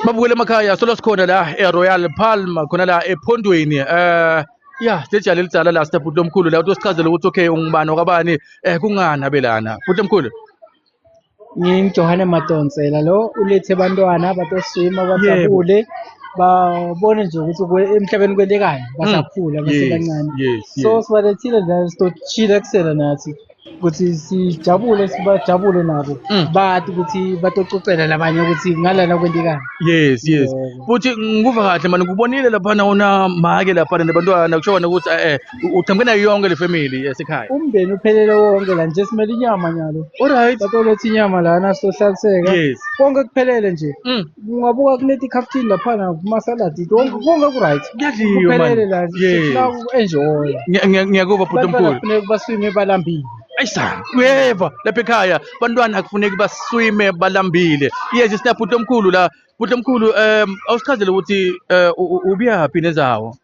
babukele emakhaya solo sikhona la eRoyal Palma khona la ephondweni eh ya sejali elidala la sita bhuti omkhulu la utosichazela ukuthi okay ungubani okwabani eh kungani abelana bhuti omkhulu ngingijohane madonsela lo ulethe abantwana batoswima bajabule babone nje ukuthi kwe- emhlabeni kwelekani basakhula Mm. Yes, basebancane yes, so yes. sibalethile la sitochila kusela nathi ukuthi sijabule sibajabule nabo Mm. bathi ukuthi batococela labanye ukuthi ngalana kwendekani yes yes Yebo. futhi ngikuva kahle mani ngikubonile laphana unamake laphana nabantwana kusho kona ukuthi eh uqhamuke nayo yonke le family yasekhaya umndeni uphelele wonke la nje simele inyama nyalo alright batolothi inyama lana sohlaliseka yes konke kuphelele nje mm. ungabuka kule tikhaftini laphana kumasaladi konke konke ku-right Kuyadliwa, man. kuphelele la Yes. sifuna uku-enjoya Ngiya- ngiya- ngiyakuva bhuti abantwana omkhulu kufuneka baswime balambile ayisa uyeva lapha ekhaya bantwana akufuneki baswime balambile yes sina bhuti omkhulu la bhuti omkhulu um awusichazele ukuthi eh, u- u- ubuyaphi nezawo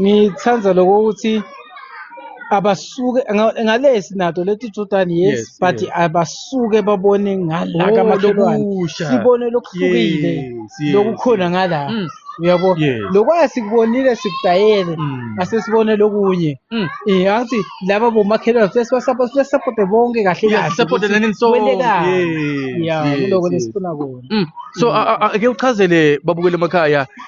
ngithanda lokho ukuthi abasuke nga- ngale sinato leti jordani yes, Yes, but yes. abasuke babone ngala Oh, kamakhelwane lokusha. sibone lokuhlukile Yes, yes. lokukhona ngala Mm, uyabo Yes. lokwaya sikubonile sikudayele mm, asesibone lokunye mm. Eh angithi laba bomakhelwane futhi sibasapota sibasapota bonke kahle Yeah, kahle support ukuthi learning song. kwentekani. Yes, yeah yes, kuloko yes. lesifuna kona Mm. So a- a- a- ake uchazele babukele emakhaya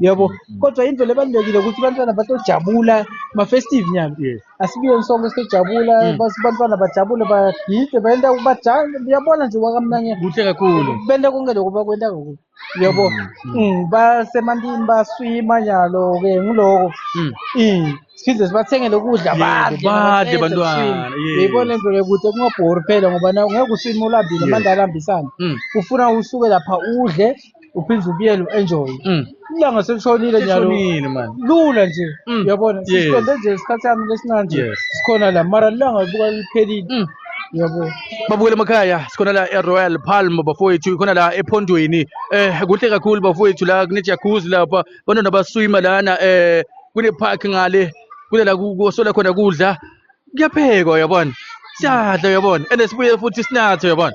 yabo kodwa into lebalulekile ukuthi abantwana batojabula ma-festive nyana asibiyeni sonke sijabula mm. abantwana bajabule bagide bayenta bajale uyabona nje wakamnanye kuhle kakhulu benta konke lokho bakwenta kakhulu yabo mm, mm. mm, basemantini baswima nyalo-ke ngiloko mm. mm. siphinde sibathengele ukudla badle bantwana yibona into yokuthi kungabhori phela ngoba ngeke uswime ulambile manje alambisane ufuna usuke lapha udle uphinde ubuyele u-enjoy Mm. ilanga selishonile nyalo Sishonile manje. lula nje Mm. uyabona Yes. siqonde nje isikhathi sami lesincane nje Yes. sikhona la mara lilanga libuka liphelile Mm. uyabona babukele emakhaya sikhona la eroyal palm bafowethu khona la ephondweni eh kuhle kakhulu bafowethu la kunejacuzzi lapha bantwana baswima lana eh kune-park ngale kule la ku- kusola khona kudla kuyaphekwa uyabona siyadla uyabona and sibuye futhi sinathe uyabona